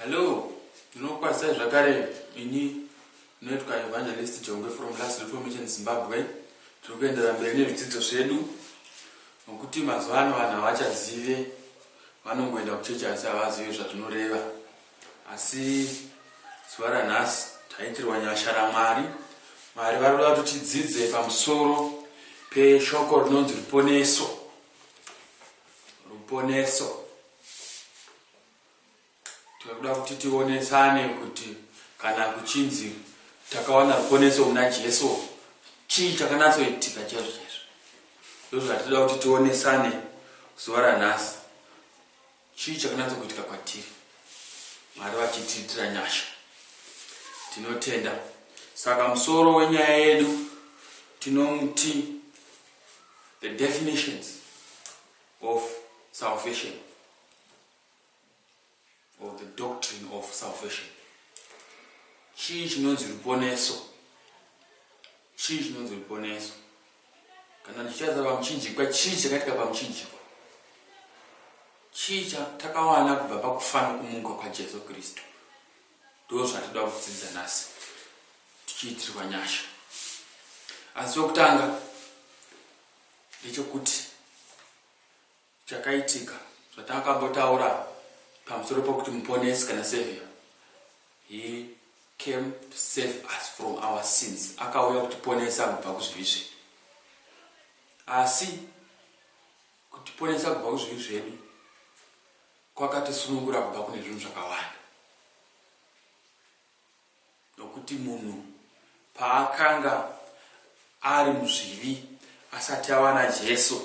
Hello, ndinokwazai zvakare ini ndinoitwa Evangelist Jongwe from Last Reformation Zimbabwe. Tiri kuendera mberi nezvidzidzo zvedu nokuti mazuva ano vanhu havachazive vanongoenda kuchechi asi havazive zvazvinoreva. Asi zuva ranhasi taitirwa nyasha raMwari. Mwari vari kuda kuti tidzidze pamusoro peshoko rinonzi ruponeso. ruponeso tinoda kuti tionesane kuti kana kuchinzi takawana ruponeso muna jesu chii chakanatsoitika chaizvo chaizvo ndozvatinoda kuti tionesane zuva ranhasi chii chakanatsokuitika kwatiri mwari vachitiitira nyasha tinotenda saka musoro wenyaya yedu tinomuti The definitions of salvation or the doctrine of salvation. Chii chinonzi ruponeso? Chii chinonzi ruponeso? Kana ndichitaza pamuchinjikwa, chii chakatika pamuchinjikwa? Chii chatakawana kubva pakufana kumuka kwaJesu Kristu? ndozvatinoda kudzidza nhasi tichiitirwa nyasha asi chokutanga ndechokuti chakaitika zvatakambotaura pamusoro pokuti muponesi kana savior he came to save us from our sins akauya kutiponesa kubva kuzvivi zvedu asi kutiponesa kubva kuzvivi zvedu Kwakatisunungura kubva kune zvinhu zvakawanda nokuti munhu paakanga ari muzvivi asati ava naJesu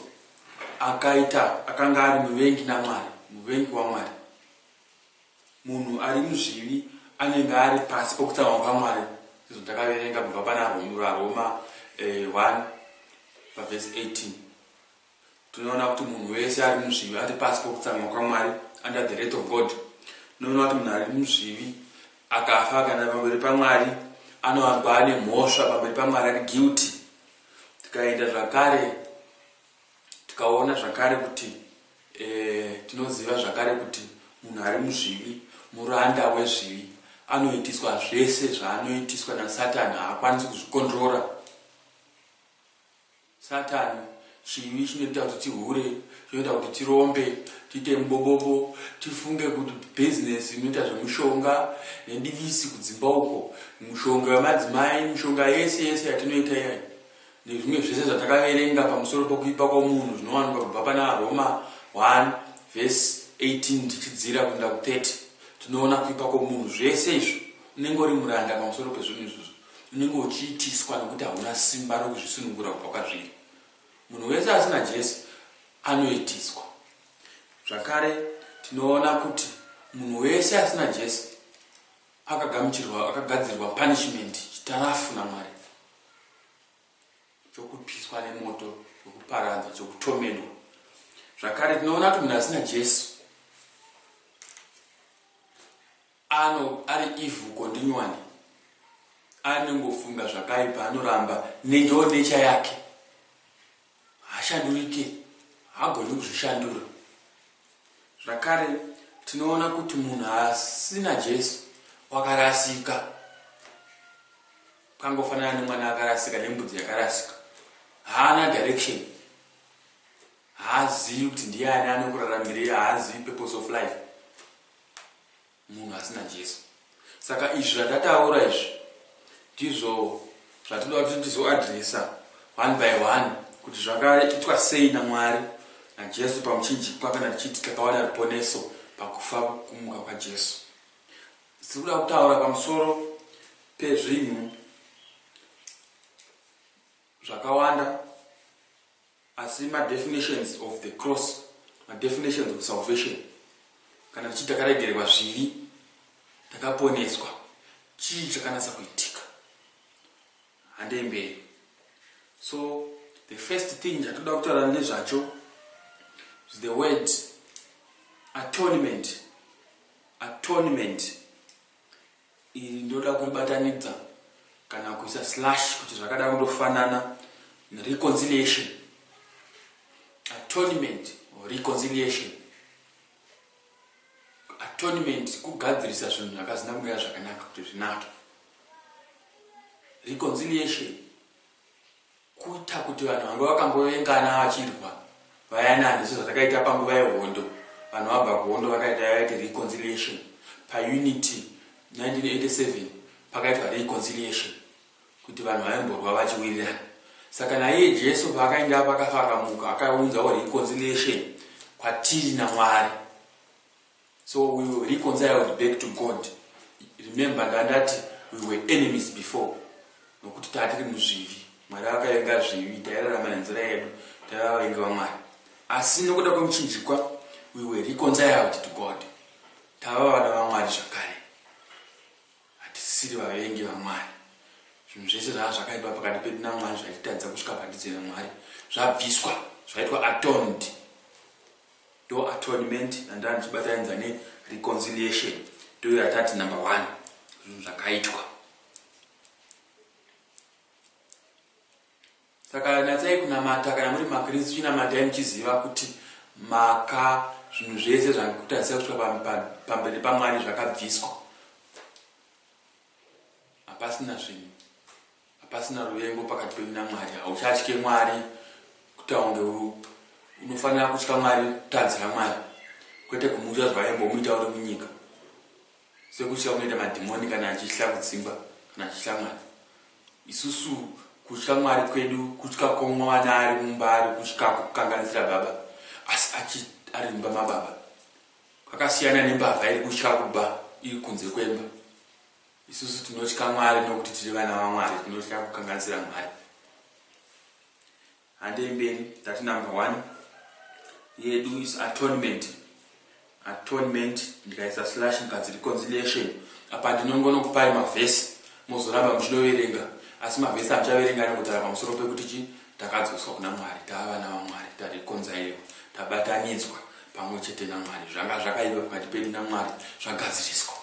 akaita akanga ari muvengi naMwari, muvengi waMwari. Munhu ari muzvivi anenge ari pasi pokutsamwa kwaMwari izvo takaverenga kubva pana Roma eh, 1 pavhesi 18 Tinoona kuti munhu wese ari muzvivi ari pasi pokutsamwa kwaMwari, under the wrath of God. Tinoona kuti munhu ari muzvivi akafa akaenda pamberi paMwari anowanikwa ane mhosva pamberi paMwari ari guilty. Tikaenda zvakare tikaona zvakare kuti eh, tinoziva zvakare kuti munhu ari muzvivi muranda wezvivi anoitiswa zvese zvaanoitiswa nasatani haakwanisi kuzvikonrora Satani, chivi, chinoita kuti tihure, chinoita kuti tirombe, tiite mubobobo, tifunge kuti business inoita zvemushonga nedivisi kudzimba uko, mushonga wemadzimai, mishonga yese yese yatinoita iyayi nezvimwe zvese zvatakaverenga pamusoro pokuipa kwomunhu zvinowanikwa kubva pana Roma 1 vhesi 18 tichidzira kuenda ku 30 tinoona kuipa kwomunhu. Zvese izvo unenge uri muranda pamusoro pezvinhu izvozvo. unenge uchiitiswa nokuti hauna simba rokuzvisunungura kubva kwazviri. Munhu wese asina Jesu anoitiswa. Zvakare, tinoona kuti munhu wese asina Jesu akagamuchirwa, akagadzirirwa punishment, chitarafu naMwari chokupiswa nemoto chokuparadza chokutomedwa zvakare tinoona kuti munhu asina jesu Ano ari evil continually anongofunga zvakaipa anoramba nendoo nature yake hashandurike hagoni kuzvishandura zvakare tinoona kuti munhu asina Jesu wakarasika kangofanana nemwana akarasika nembudzi yakarasika haana direction haazivi kuti ndiani anokuraramirei haazivi purpose of life munhu asina Jesu. Saka izvi zvandataura izvi ndizvo zvatinoda kuti tizoadresa one by one kuti zvakaitwa sei naMwari naJesu pamuchinjikwa kana tichiti takawana ruponeso pakufa kumuka kwaJesu. Tiri kuda kutaura pamusoro pezvinhu zvakawanda asi ma definitions of the cross ma definitions of salvation kana tichiti takaregererwa zvivi takaponeswa chii chakanasa kuitika handei mberi so the first thing chatoda kutaura nezvacho is the word atonement atonement Iri ndoda kuribatanidza kana kuisa slash kuti zvakada kundofanana reconciliation atonement or reconciliation atonement kugadzirisa zvinhu zvakazina kumira zvakanaka kuti zvinake reconciliation Kuita kuti vanhu vanga vakambovengana vachirwa vayani handiso zvazakaita panguva yehondo. Vanhu vabva kuhondo vakaita yavaiti reconciliation paUnity 1987 pakaitwa reconciliation kuti vanhu vaimborwa vachiwirirana. Saka naiye Jesu paakaenda pakafa akamuka akaunzawo reconciliation kwatiri naMwari. So we were reconciled back to God. Remember ndandati we were enemies before. Nokuti tatiri muzvivi. Mwari vakavenga zvivi, tairarama nenzira yedu, taiva vavengi vaMwari. Asi nokuda kwemuchinjikwa, we were reconciled to God. Tava vana vaMwari zvakare. Hatisiri vavengi vaMwari. Zvinhu zvese zvava zvakaipa pakati pedu naMwari zvaititadza kusvika pandidzira Mwari. Zvabviswa, zvaitwa atoned. Ndo atonement yandanga ndichibataidzwa ne reconciliation ndiyo yatati number one zvinhu zvakaitwa. Saka natsai kunamata kana muri makristu chinamatai muchiziva kuti maka zvinhu zvese zvakutarisira kusvika pamberi pamwari zvakabviswa hapasina zvinhu Hapasina ruvengo pakati penyu naMwari. Hauchatye Mwari kuti aunge unofanira kutya Mwari kutadzira Mwari kwete kumutya zvaimbomuita uri munyika sekutya kunoita madhimoni kana achitya kudzimba kana achitya Mwari. Isusu kutya Mwari kwedu kutya kwomwana ari mumba ari kutya kukanganisira baba asi achi ari mumba mababa kwakasiyana nembavha iri kutya kuba iri kunze kwemba. Isusu tinotya Mwari nokuti tiri vana vaMwari, tinotya kukanganisira Mwari. Handei mberi, tati number one yedu is atonement. Atonement ndikaisa slash ndikanzi reconciliation, apa ndinongonokupai mavhesi mozoramba muchinoverenga, asi mavhesi amuchaverenga anongotara pamusoro pekuti chi takadzoswa kuna Mwari, tava vana vaMwari, tarekonzairiwa, tabatanidzwa pamwe chete naMwari, zvanga zvakaipa pakati pedu naMwari zvagadziriswa.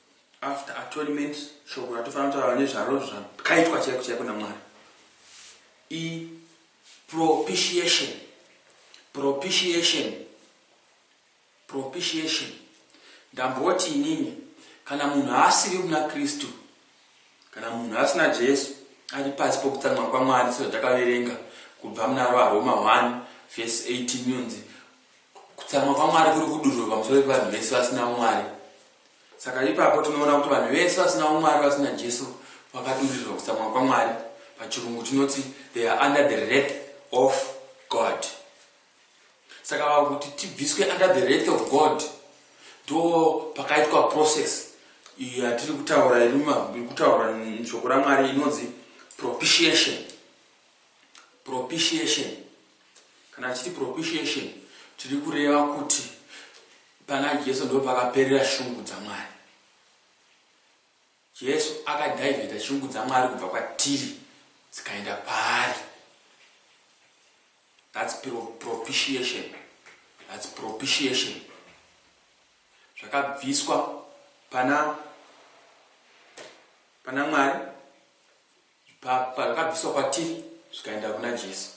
after atonement shoko ratofana kutaura nezvaro zvakaitwa chaiko chaiko namwari ipropitiation propitiation propitiation ndamboti inini kana munhu asiri muna kristu kana munhu asina jesu ari pasi pokutsamwa kwamwari sezvatakaverenga kubva muna varoma 1 vhesi 18 yunzi kutsamwa kwamwari kuri kudururwa pamusoro pevanhu vese vasina mwari Saka ipapo tinoona kuti vanhu vese vasina umwari vasina Jesu vakadururirwa kutsamwa kwaMwari. Pachirungu tinoti they are under the wrath of God. Saka kuti tibviswe under the wrath of God ndo pakaitwa process iyo yatiri kutaura iri kutaura shoko raMwari inonzi propitiation. propitiation kana tichiti propitiation tiri kureva kuti pana jesu ndo pakaperera shungu dzamwari jesu akadhaivheta shungu dzamwari kubva kwatiri dzikaenda kwaari thats propitiation thats propitiation zvakabviswa pana pana mwari Ipapo pazvakabviswa kwatiri zvikaenda kuna Jesu,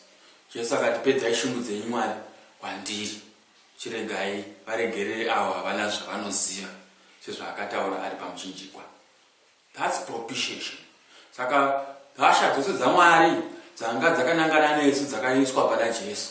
Jesu akati, Pedzai shungu dzenyu, Mwari, kwandiri. Chiregai varegerere avo havana zvavanoziva, sezvaakataura ari pamuchinjikwa. That's propitiation. Saka hasha dzose dzaMwari dzanga dzakanangana nesu dzakaiswa pana Jesu.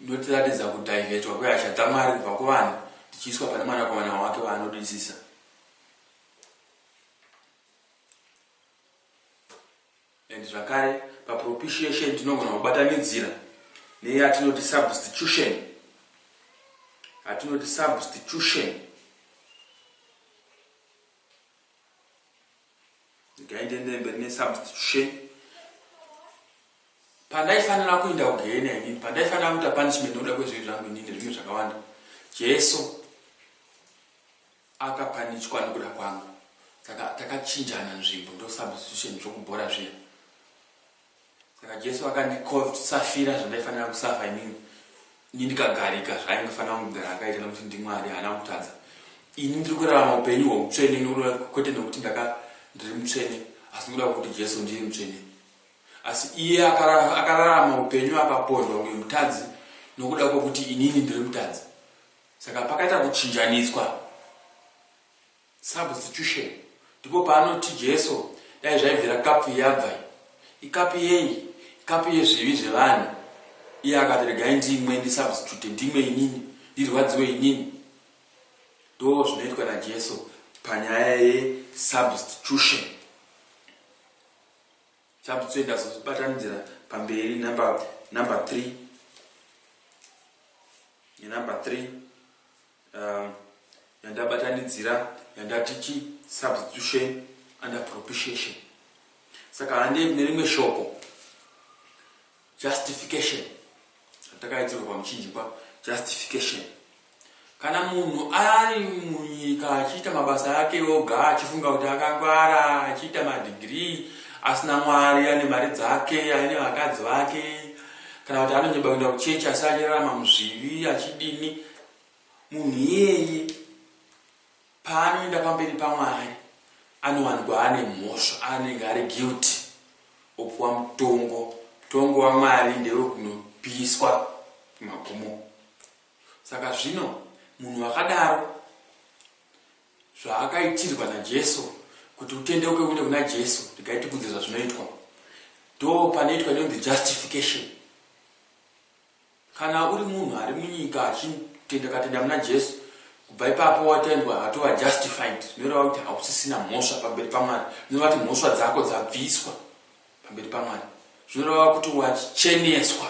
Inotiratidza kudhaivetwa kwehasha dzaMwari kubva kuvanhu dzichiiswa pane Mwanakomana wake waanodisisa. And zvakare, papropitiation tinogona kubatanidzira neyatinoti substitution. Atinoti substitution. ndikaendende mberi nesubstitution pandaifanira kuenda kugehena inini pandaifanira kuita punishment nokuda kwezvivi zvangu inini zvimwe zvakawanda jesu akapanitwa nokuda kwangu takachinjana nzvimbo ndosubstitution zvokubhora zviya Saka Jesu akandikova kuti safira zvandaifanira kusafa inini. Ini ndikagarika zvaingofanira kungogara akaita nokuti ndiMwari haana kutadza. Ini ndiri kurarama upenyu hweutsvene nokuda kwete nokuti ndaka ndiri mutsvene asi nokuda kwekuti Jesu ndiye mutsvene. Asi iye akararama upenyu akapondwa kunge mutadzi nokuda kwekuti inini ndiri mutadzi. Saka pakaita kuchinjaniswa. Substitution. Ndipo paanoti Jesu dai zvaibvira kapfu yabva iyi. Ikapfu yei? Ikapfu yezvivi zvevanhu. Iye akati regai ndimwe ndi substitute ndimwe inini ndirwadziwe inini. Ndoo zvinoitwa na Jesu panyaya ye substitution. Substitute ndazozvibatanidzira pamberi number number 3 ne number 3. um, yandabatanidzira yandati chi substitution and propitiation saka hande nerimwe shoko justification atakaitirwa pamuchinjikwa justification kana munhu ari munyika achiita mabasa ake oga achifunga kuti akangwara achiita madhigirii asina mwari ane mari dzake aine vakadzi vake kana kuti anonyeba kuenda kuchechi asi achirarama muzvivi achidini munhu iyeye paanoenda pamberi pamwari anowanikwa ane mhosva anenge ari guilty opuwa mutongo mutongo wamwari ndewekunopiswa magumo saka zvino munhu wakadaro zvaakaitirwa najesu kuti utendeuke uende kuna jesu regai tikudze zvazvinoitwa ndo panoitwa inonzi justification Kana uri munhu ari munyika achitenda katenda muna Jesu kubva ipapo watendwa watova justified zvinoreva kuti hausisina mhosva pamberi paMwari zvinoreva kuti mhosva dzako dzabviswa pamberi paMwari zvinoreva kuti wacheneswa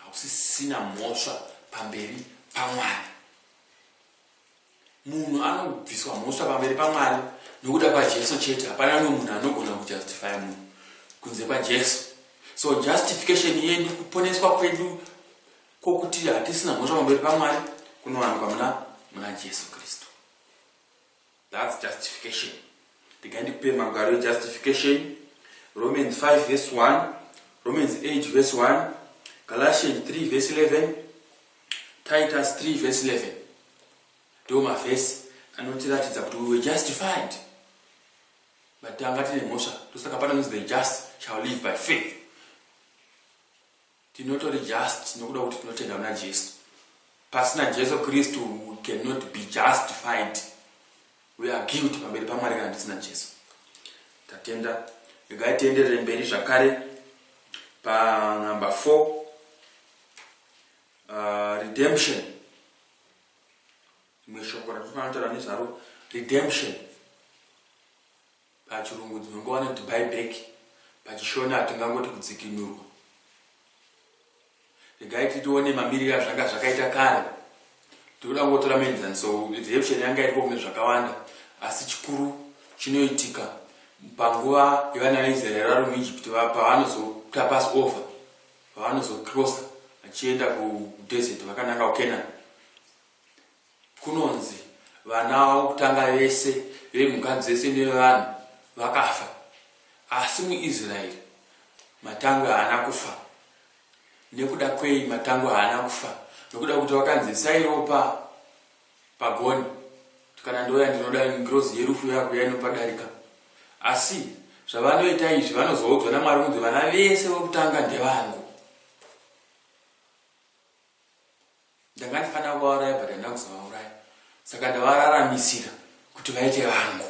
hausisina mhosva pamberi paMwari Munhu anobviswa mhosva pamberi paMwari nokuda kwaJesu chete. Hapana umwe munhu anogona kujustifya munhu kunze kwaJesu. So justification yedu, kuponeswa kwedu kwokuti hatisina mhosva pamberi paMwari kunowanikwa muna muna Jesu Kristu. That's justification. Ndiga ndipe magwaro ejustification. Romans 5 verse 1, Romans 8 verse 1, Galatians 3 verse 11, Titus 3 verse 11 ndiwo mavhesi anotiratidza kuti we were justified but tanga tine mhosva ndosaka panonzi the just shall live by faith tinotori just nokuda kuti tinotenda kuna jesu pasina jesu kristu we cannot be justified we are guilt pamberi pamwari kana tisina jesu tatenda regai tienderere mberi zvakare panumber four uh, redemption rimwe shoko ratinofanira kutaura nezvaro redemption pachirungu dzinongowana kuti buyback pachishona tingangoti kudzikinurwa regai titione mamiriro azvanga zvakaita kare tikuda kungotora menzaniso redemption yanga iripo kune zvakawanda asi chikuru chinoitika panguva yevana vaisraeri vari muegypt pavanozotapasi over Paanozo crosser achienda ku desert vakananga ku Canaan kunonzi vana vavo kutanga vese vemhuka dzese nevanhu vakafa asi muIsraeri matangwe haana kufa. Nekuda kwei matangwe haana kufa? Nekuda kuti vakanzi isai ropa Pagoni, kana ndouya ndinoda ngirozi yerufu yakuya inopadarika. Asi zvavanoita izvi vanozoudzwa naMwari kunzi vana vese vokutanga ndevangu. Ndanga ndifanira kuvauraya but handina kuzovauraya. Saka ndavararamisira kuti vaite vangu.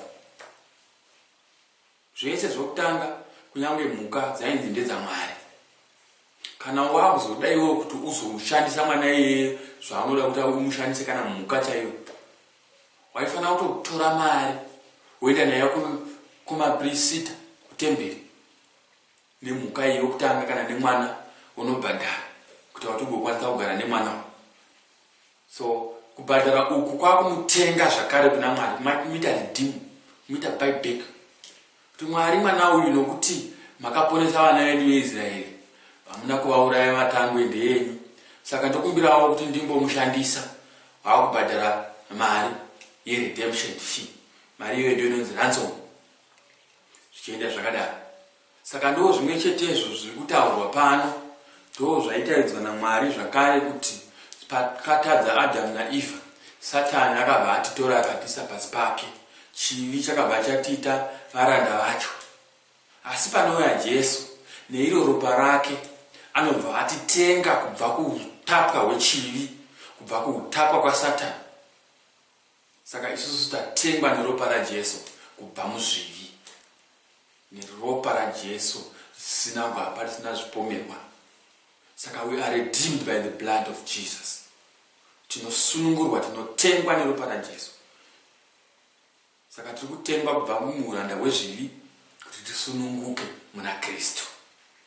Zvese zvokutanga kunyange mhuka dzainzi ndedzaMwari. Kana wakuzoda iwewe kuti uzomushandisa mwana iyeye zvaanoda kuti umushandise kana mhuka chaiyo. Waifanira kutotora mari woenda nayo kumaprisita kutemberi nemhuka iyi yokutanga kana nemwana wonobhadhara kuti wati ugokwanisa kugara nemwana uyu. So kubhadhara uku kwakumutenga zvakare kuna Mwari maita redeem muita buy back kuti Mwari mwana uyu nokuti makaponesa vana vedu veIsraeri hamuna kuvauraya vatangwe ndeyenyu saka ndokumbirawo kuti ndimbomushandisa vakubhadhara mari yeredemption fee mari iyoyo ndiyo inonzi ransom zvichienda zvakadaro Saka ndoo zvimwe chetezvo zviri kutaurwa pano, ndoo zvaitaridzwa naMwari zvakare kuti pakatadza Adhamu naEvha, Satani akabva atitora akatiisa pasi pake, chivi chakabva chatiita varanda vacho. Asi panouya Jesu neiro ropa rake anobva atitenga kubva kuutapwa hwechivi, kubva kuutapwa kwaSatani. Saka isusu tatengwa neropa raJesu kubva muzvivi. Neropa raJesu risina gwapa, risina zvipomerwa. Saka we are redeemed by the blood of Jesus. Tinosunungurwa, tinotengwa neropa raJesu. Saka tiri kutengwa kubva muhuranda hwezvivi kuti tisununguke muna Kristu.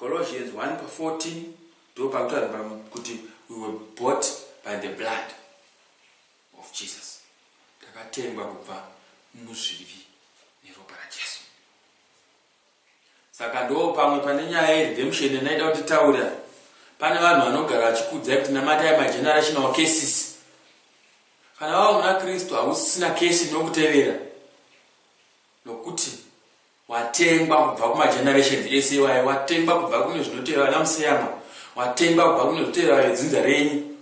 Colossians 1 pa 14 ndipo panotaurwa kuti we were bought by the blood of Jesus. Takatengwa kubva muzvivi neropa raJesu. Saka ndo pamwe pane nyaya yeredemption yanaida kuti taura. Pane vanhu vanogara vachikudzai kuti namatai magenerational cases. Kana wava muna Kristu hausisina case inokutevera nokuti Watengwa kubva kuma generations ese iwayo, watengwa kubva kune zvinotevera vana museyamwa, watengwa kubva kune zvotevera vedzinza renyu.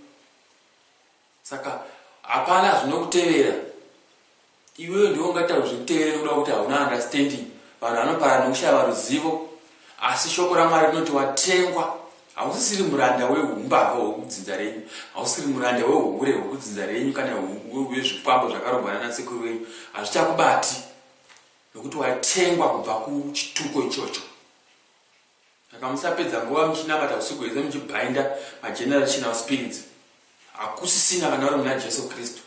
Saka hapana zvinokutevera iwewe, ndiwe ungataura zvekutevera nekuda kwekuti hauna understanding. Vanhu vanoparana nekushaya ruzivo, asi shoko raMwari rinoti watengwa. Hausisiri muranda wehumbavha hwekudzinza renyu, hausiri muranda wehuhure hwekudzinza renyu kana hwezvikwambo zvakarongwa nana sekuru venyu, hazvichakubati. nokuti watengwa kubva kuchituko ichocho saka musapedza nguva muchinamata usiku hwese muchibhainda magenerational spirits hakusisina kana uri muna jesu kristu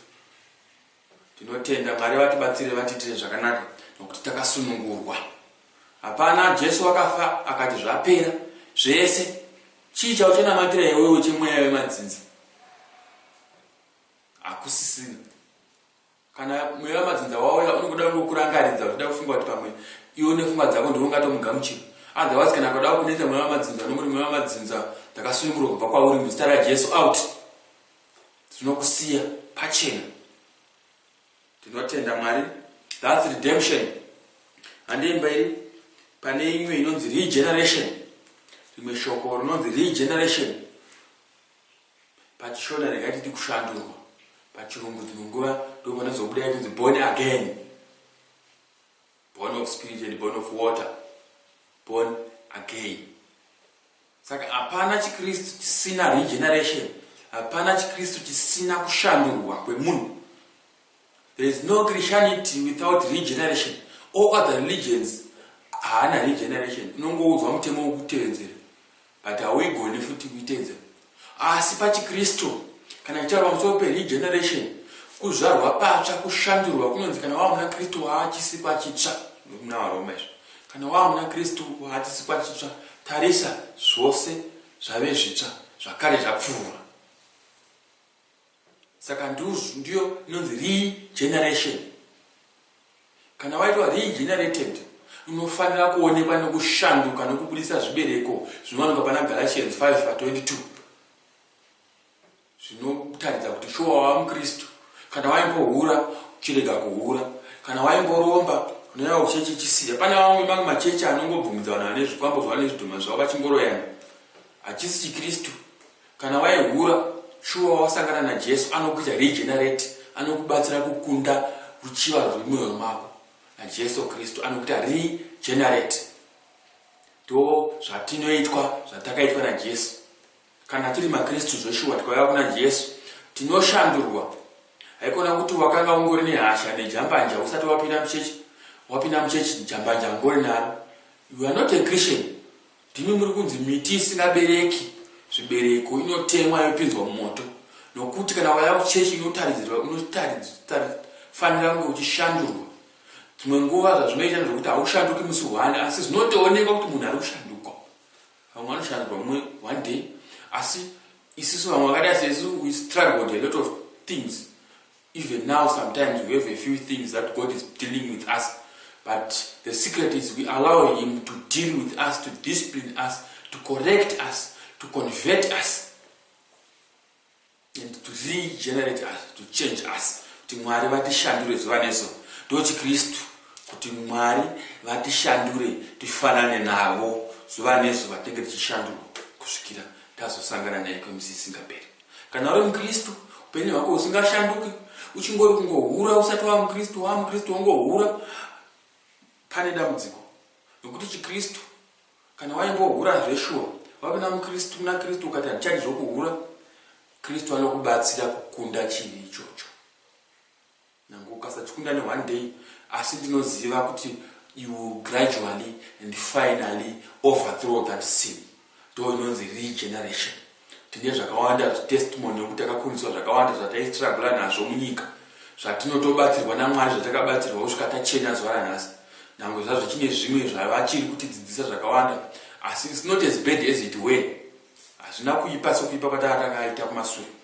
tinotenda mwari vatibatsire vatiitire zvakanaka nokuti takasunungurwa hapana jesu wakafa akati zvapera zvese chii chauchanamatira iwewe chemweya wemadzinza hakusisina kana mweya madzinza wauya unongoda kungokurangaridza uchida kufunga kuti pamwe iwe nefunga dzako ndiwe ungatomugamuchira otherwise kana kuda kunetsa mweya wamadzinza unongoti mweya wamadzinza ndakasunungurwa kubva kwauri muzita rajesu out tinokusiya pachena tinotenda mwari thats redemption handiimba iri pane imwe inonzi regeneration rimwe shoko rinonzi regeneration pachishona rega titi kushandurwa pachirungu dzimwe nguva ndopanozobudai kunzi born again born of spirit and born of water born again saka hapana chikristu chisina regeneration hapana chikristu chisina kushandurwa kwemunhu there is no christianity without regeneration all other religions haana regeneration unongoudzwa mutemo wokutevedzera But hauigoni futi kuitedza. Asi pachiKristu, kana tichitaura pamusoro peRegeneration, kuzvarwa patsva, kushandurwa, kunonzi kana wava muna Kristu wava chisikwa chitsva. Muna vaRoma izvo. Kana wava muna Kristu wava chisikwa chitsva. Tarisa, zvose zvave zvitsva, zvakare zvapfuura. Saka nduzu ndiyo inonzi regeneration. Kana waitwa regenerated unofanira kuonekwa nekushanduka nekubudisa zvibereko zvinowanikwa pana Galatians 5 pa 22 zvinotaridza kuti shuwa wava muKristu. Kana waimbohura chirega kuhura, kana waimboromba unoyava kuchechi chisiya. Pane vamwe mamwe machechi anongobvumidza vanhu vane zvikwambo zvavo nezvidhoma zvavo vachingoroyana, hachisi chiKristu. Kana waihura shuwa wasangana naJesu anokuita regenerate anokubatsira kukunda ruchiva ruri mumwoyo mako naJesu Kristu anokuita regenerate ndo zvatinoitwa zvatakaitwa naJesu kana tiri maKristu zveshuwa tikauya kuna Jesu tinoshandurwa haikona kuti wakanga ungori nehasha nejambanja usati wapinda muchechi wapinda muchechi jambanja ungori naro you are not a Christian Ndimi muri kunzi miti isingabereki zvibereko inotemwa yopinzwa mumoto, nokuti kana ukauya kuchechi inotaridzirwa unofanira kunge uchishandurwa. Dzimwe nguva zvazvinoita ndezvokuti haushanduki musi one, asi zvinotoonekwa kuti munhu ari kushanduka. Vamwe vanoshandurwa mumwe one day, asi isisu vamwe vakadai sesu we struggled a lot of things. Even now sometimes we have a few things that God is dealing with us but the secret is we allow him to deal with us to discipline us to correct us to convert us and to regenerate us to change us kuti mwari vatishandure zuva neso ndochikristu kuti mwari vatishandure tifanane navo zuva nezuva tinge tichishandurwa kusvikira tazosangana naye kwemisisingaperi Kana uri muKristu, upenyu hwako husingashanduki, uchingori kungohura usati wava muKristu, wava muKristu wongohura, pane dambudziko. Nokuti chiKristu, kana waimbohura zveshuwa, wapinda muKristu, muna Kristu, ukati handichadi zvokuhura, Kristu anokubatsira kukunda chivi ichocho. Nyangwe ukasachikunda ne one day asi ndinoziva kuti you will gradually and finally overthrow that sin. Ndoo inonzi regeneration. Tine zvakawanda zvi testimony yekuti takakundiswa zvakawanda zvataistruggle nazvo munyika zvatinotobatsirwa naMwari zvatakabatsirwa kusvika tachena zuva ranhasi. Nyangwe zvazvo chine zvimwe zvavachiri kutidzidzisa zvakawanda asi it's not as bad as it were. Hazvina kuipa sekuipa kwatanga takaita kumasure.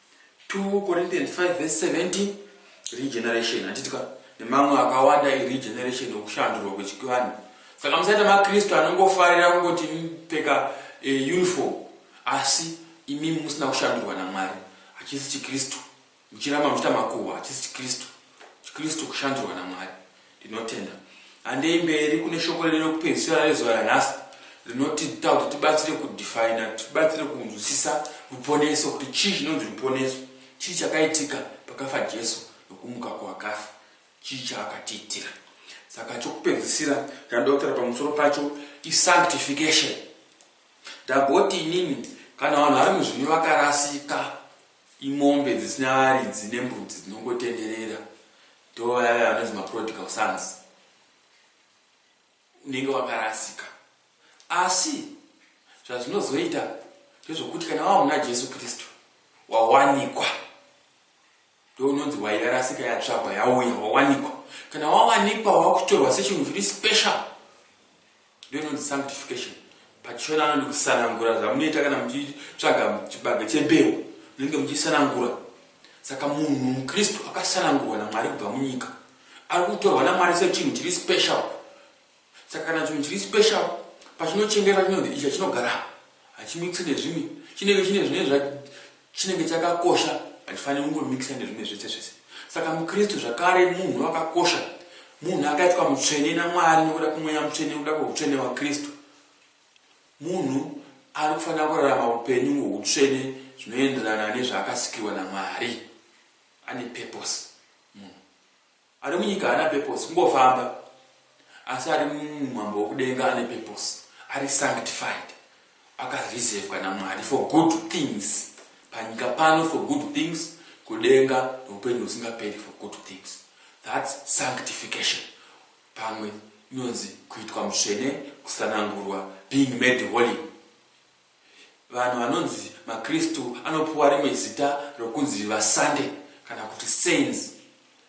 2 Corinthians 5 verse 17 regeneration hatitika nemamwe akawanda iregeneration yokushandurwa kwechivanhu saka musaita makristu anongofarira kungoti pfeka e, uniform asi imi musina kushandurwa namwari hachisi chikristu muchiramba muchiita makuhwa hachisi chikristu chikristu kushandurwa namwari Tinotenda. Handei mberi kune shoko redu rekupedzisira rezuva ranhasi rinotiita kuti tibatsire kudefina, tibatsire kunzwisisa ruponeso, kuti chii chinonzi ruponeso, chii chakaitika pakafa Jesu nokumuka kuvakafa, chii chaakatiitira. Saka chokupedzisira chandinoda kutaura pamusoro pacho isanctification. Ndagoti inini kana vanhu vari muzvinyu vakarasika, imombe dzisina varidzi nembudzi dzinongotenderera, Ndiwo vaya vaya vanonzi maprodigal sons, unenge wakarasika. Asi zvazvinozoita ndezvokuti kana wava muna Jesu Kristu, wawanikwa. Ndiwo unonzi wairasika, yatsvagwa, yauya, wawanikwa. Kana wawanikwa, wakutorwa sechinhu chiri special. Ndononzi sanctification pachishona anonzi kusanangura zvamunoita kana muchitsvaga chibage chembeu munenge muchisanangura saka munhu mukristu akasanangurwa namwari kubva munyika ari kutorwa namwari sechinhu chiri special saka kana chinhu chiri special pachinochengetwa chinonzi icha chinogara hachimikisi nezvimwe chinenge chine zvine Chinenge chakakosha hachifaniri kungomikisa nezvimwe zvese zvese. Saka muKristu zvakare munhu wakakosha, munhu akaitwa mutsvene naMwari nokuda kwemweya mutsvene, nokuda kweutsvene hwaKristu. Munhu ari kufanira kurarama upenyu hwoutsvene zvinoenderana nezvaakasikirwa naMwari. Ane purpose. Ari munyika haana purpose kungofamba asi ari mumambo wekudenga ane purpose ari sanctified akarizevwa naMwari for good things panyika pano for good things kudenga noupenyu husingaperi for good things thats sanctification pamwe inonzi kuitwa mutsvene kusanangurwa being made holy Vanhu vanonzi maKristu anopiwa rimwe zita rokunzi vasande kana kuti saints.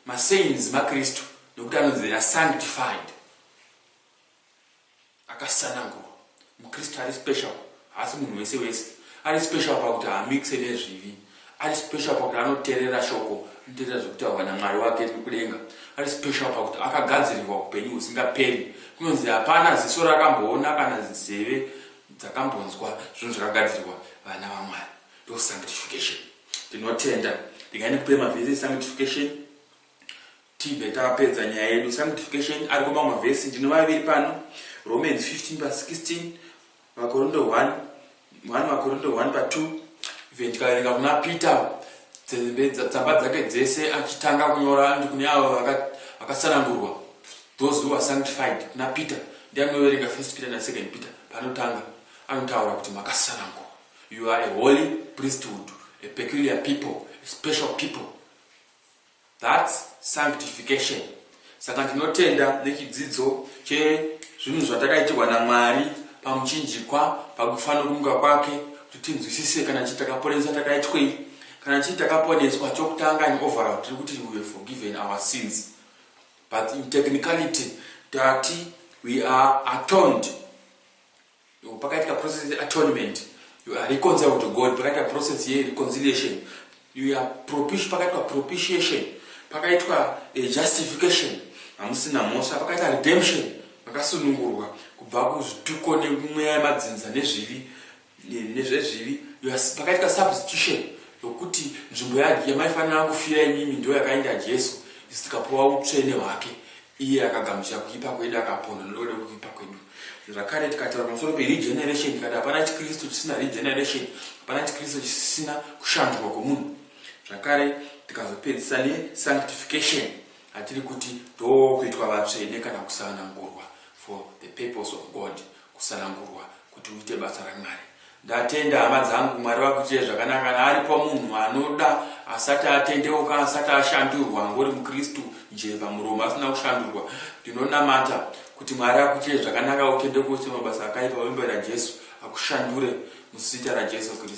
Masaints maKristu nokuti anonzi they are sanctified, akasanangurwa. MuKristu ari special, haasi munhu wese wese. Ari special pakuti haamixe nezvivi. Ari special pakuti anoterera shoko, anoterera zvekutaurwa naMwari wake kudenga. Ari special pakuti akagadzirirwa upenyu husingaperi. Kunonzi hapana ziso rakamboona kana nzeve dzakambonzwa zvinhu zvakagadzirirwa vana vaMwari ndo sanctification. Ndinotenda ndinga ndikupe mavhesi esanctification tibve tapedza nyaya yedu sanctification ariko mamwe mavhesi ndine maviri pano Romans 15 pa 16 Vakorindo 1 1 Vakorindo 1 pa 2 even tikaverenga kuna Peter tsamba dzake dzese achitanga kunyora ndi kune avo vakasanangurwa Those who are sanctified kuna Peter ndiani unoverenga first Peter na second Peter panotanga anotaura kuti makasanangurwa you are a holy priesthood a peculiar people a special people that's sanctification saka ndinotenda nechidzidzo chezvinhu zvatakaitirwa namwari pamuchinjikwa pakufana kumuka kwake kuti tinzwisise kana chii takaponeswa takaitwei kana chii takaponeswa chokutanga and overall tiri kuti we were forgiven our sins but in technicality tati we are atoned pakaitika process yeatonement you are reconciled to god pakaitika process yereconciliation you are propish pakaitika propitiation pakaitwa eh, justification hamusina mhosva pakaita redemption makasunungurwa kubva kuzvituko nemweya yemadzinza nezvivi nezvezvivi pakaitwa substitution yokuti nzvimbo yamaifanira kufira imimi ndo yakaenda jesu isu tikapuwa utsvene hwake iye akagamuchira kuipa kwedu akapona nododa kuipa kwedu zvakare tikataura pamusoro peregeneration tikati hapana chikristu chisina regeneration hapana chikristu chisina kushandurwa kwomunhu zvakare tikazopedzisa nesanctification hatiri kuti ndokuitwa vatsvene kana kusanangurwa for the purpose of god kusanangurwa kuti uite basa raMwari. Ndatenda hama dzangu Mwari vakuitire zvakanaka kana aripo munhu anoda asati atendeuka asati ashandurwa angori mukristu njee pamuromo asina kushandurwa ndinonamata kuti Mwari akuitire zvakanaka utendeuke usite mabasa akaipa wembera Jesu akushandure muzita raJesu Kristu.